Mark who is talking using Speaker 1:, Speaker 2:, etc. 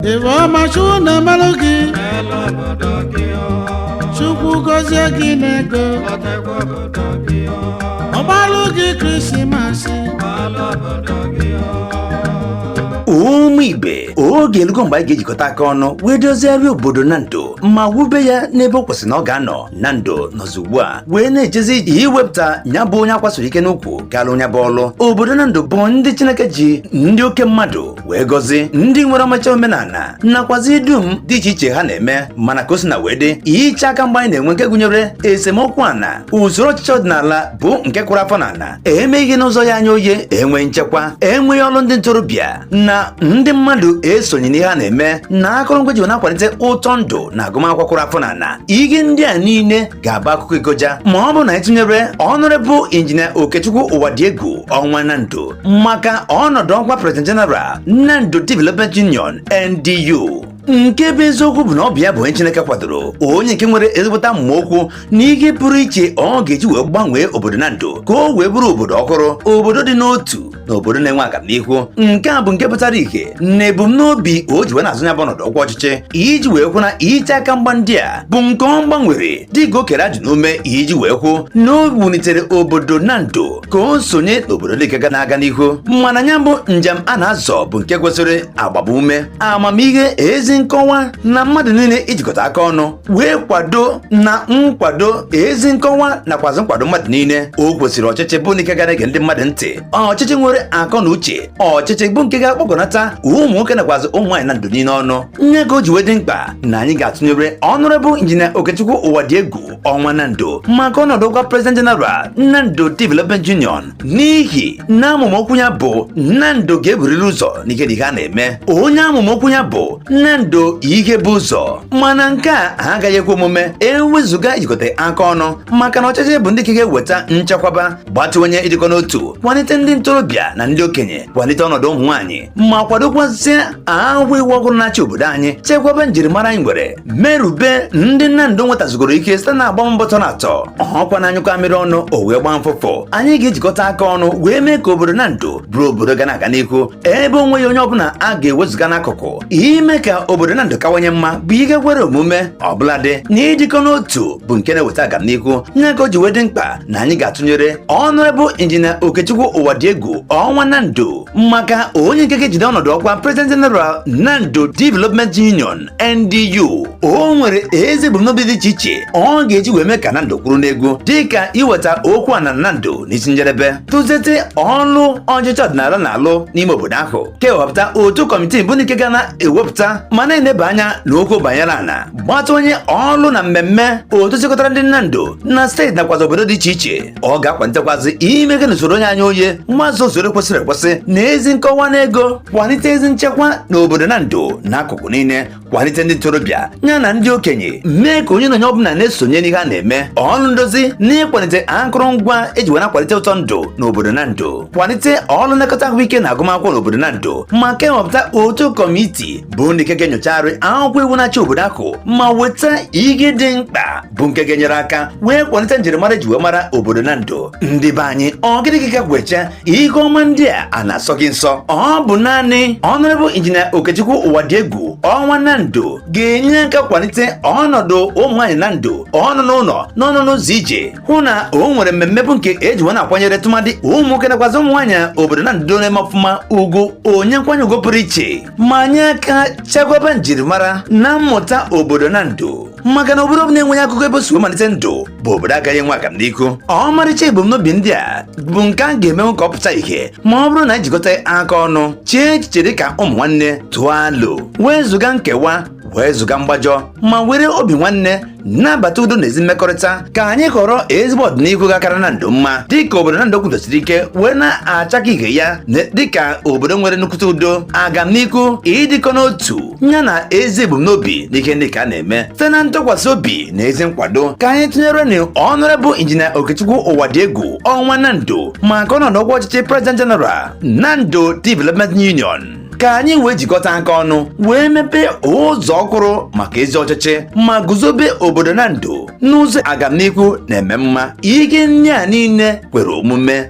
Speaker 1: ife ọma chukwu na-emelụ gị n'elu obodo gị o chukwu
Speaker 2: gọzie gị n'ego lotekwa obodo gị o ọ gbalụ gị krisimasị n'elu obodo gị o ụmụ ibe oge elugo mgbe anyị ga-ejikọta aka ọnụ wee dozigharịa obodo Nando ma wube ya n'ebe ọ kwesịrị na ọ ga-anọ Nando nọzi ugbu a wee na-ejezi iwepụta ya bụ onye akwa siri ike n'ukwu ga-alụ ya bụ ọlụ obodo Nando bụ ndị chineke ji ndị oke mmadụ wee gọzie ndị nwere ọmacha omenala nakwazi dum dị iche iche ha na-eme mana ka o sina wee dị iche aka mgba anyị na-enwe nke gụnyere esemokwu ana usoro ọchịchị ọdịnala bụ nke kụrụ afọ n'ala emeghị ihe n'ụzọ ya anya oye enweghị nchekwa enweghị ọrụ ndị ntorobịa na ndị mmadụ esonye n'ihe a na-eme na akụrụngwa e ji na-akwalite ụtọ ndụ na agụmakwụkwọ kụrụ afọ n'ala ihe ndị a niile ga-abụ akụkọ igoja ma ọ bụrụ na anyị tụnyere Honourable Engineer Okechukwu Uwadiegwu Ọnwa Nando maka ọnọdụ ọkwa President General Nando Development Union NDU nke bụ eziokwu bụ na ọ bụ ya bụ onye Chineke kwadoro onye nke nwere ezigbote amụma okwu na ihe pụrụ iche ọ ga-eji wee gbanwee obodo Nando ka o wee bụrụ obodo ọhụrụ obodo dị n'otu na obodo na-enwe agamnihu nke a bụ nke pụtara ìhè na ebumnobi o ji wee na-azọ ya bụ ọnọdụ ọkwa ọchịchị iji wee hụ na iche aka mgba ndị a bụ nke ọ gbanwere dịka o kere ajị n'ume iji wee hụ na o wunitere obodo Nando ka o sonye n'obodo nke ga na-aga n'ihu mana ya bụ njem a na-azọ bụ nke kwesịrị agbamume amamihe ezi nkọwa na mmadụ niile ijikọta aka ọnụ wee kwado na nkwado ezi nkọwa nakwazi nkwado mmadụ niile o kwesịrị ọchịchị bụ nke ga na-ege ndị mmadụ ntị ọchịchị nwere akọ na uche ọchịchị bụ nke ga-akpọkọnata ụmụ nwoke nakwazi ụmụ nwaanyị Nando niile ọnụ nya ka o ji wee dị mkpa na anyị ga-atụnyere Honourable Engineer Okechukwu Uwadiegwu Ọnwa Nando maka ọnọdụ ọkwa President General Nando Development Union n'ihi na amụma okwu ya bụ Nando ga-eburiri ụzọ n'ihe niile a na-eme onye amụma okwu ya bụ Nando ihe bu ụzọ mana nke a agaghị ekwe omume ewezụga ijikọta aka ọnụ maka na ọchịchị bụ ndị nke ga-eweta nchekwaba gbatịwanye ịdịkọ n'otu kwalite ndị ntorobịa na ndị okenye kwalite ọnọdụ ụmụ nwaanyị ma kwadokwazie akwụkwọ iwu ọhụrụ na-achị obodo anyị chekwaba njirimara anyị nwere merube ndị Nando nwetazigoro ike site na agbam mbọ tọ na atọ ọ kwa na a nyụkọọ amịrị ọnụ o wee gbaa mfụfụ anyị ga-ejikọta aka ọnụ wee mee ka obodo Nando bụrụ obodo ga na-aga n'ihu ebe o nweghị onye ọbụla a ga-ewezụga n'akụkụ ime ka obodo Nando kawanye mma bụ ihe kwere omume ọbụnadị na ịdịkọ n'otu bụ nke na-eweta agamnihu nya ka o ji wee dị mkpa na anyị ga-atụnyere Honourable Engineer Okechukwu Uwadiegwu Ọnwa Nando maka onye nke ga-ejide ọnọdụ ọkwa President General Nando Development Union NDU o nwere ezi ebumnobi dị iche iche ọ ga-eji wee mee ka Nando kwuru n'egwu dịka iweta okwu ana Nando n'isi njedebe tụzete ọlụ ọchịchị ọdịnala na-alụ n'ime obodo ahụ kewapụta otu kọmitii bụ nke ga na-ewepụta ma na-eneba anya n'okwu banyere ana gbata onye ọlụ na mmemme otu chịkọtara ndị Nando na steeti nakwazi obodo dị iche iche ọ ga-akwalitekwazi ime ihe n'usoro oye anya oye nhazi usoro kwesịrị ekwesị na ezi nkọwa na ego kwalite ezi nchekwa n'obodo Nando n'akụkụ niile kwalite ndị ntorobịa ya na ndị okenye mee ka onye na onye ọbụla na-esonye n'ihe a na-eme ọlụ ndozi na ịkwalite akụrụngwa eji wee na-akwalite ụtọ ndụ n'obodo Nando kwalite ọlụ nlekọta ahụike na agụmakwụkwọ n'obodo Nando ma kewapụta otu kọmiti bụ ndị nke ga-enyochagharị akwụkwọ iwu na-achị obodo ahụ ma weta ihe dị mkpa bụ nke ga-enyere aka wee kwalite njirimara eji wee mara obodo Nando ndị be anyị ọ gịnị gị gagwecha ihe ọma ndị a a na-asọ gị nsọ ọ bụ naanị Honorable Engineer Okechukwu Uwadiegwu Ọnwa Nando ga-enye aka kwalite ọnọdụ ụmụ nwaanyị Nando ọnọ n'ụlọ na ọnọ n'ụzọ ije hụ na o nwere mmemme bụ nke eji wee na-akwanyere tụmadị ụmụ nwoke nakwazi ụmụ nwaanyị obodo Nando na-eme ọfụma ugwu onye nkwanye ugwu pụrụ iche ma nye aka chekwaba njirimara na mmụta obodo Nando maka na obodo ọbụla enweghị akụkọ ebe o si wee malite ndụ bụ obodo agaghị enwe agamnihu ọmarịcha ebumnobi ndị a bụ nke a ga-emenwu ka ọ pụta ihe ma ọ bụrụ na ejikọta aka ọnụ chee echiche dị ka ụmụ nwanne tụọ alo wee zụga nkewa wee zụga mgbajọ ma were obi nwanne nabata udo na ezi mmekọrịta ka anyị họrọ ezigbo ọdịnihu ga-akara Nando mma dịka obodo Nando kwụdosiri ike wee na-achake ihe ya dịka obodo nwere nnukwute udo agamnihu ịdịkọ n'otu ya na ezi ebumnobi n'ihe ndị ka a na-eme site na ntụkwasị obi na ezi nkwado ka anyị tụnyerenụ Honorable Engineer Okechukwu Uwadiegwu Ọnwa Nando maka ọnọdụ ọkwa ọchịchị President General Nando Development Union ka anyị wee jikọta aka ọnụ wee mepee ụzọ ọhụrụ maka ezi ọchịchị ma guzobe obodo Nando n'ụzọ agamnihu na-eme mma ihe ndị a niile kwere omume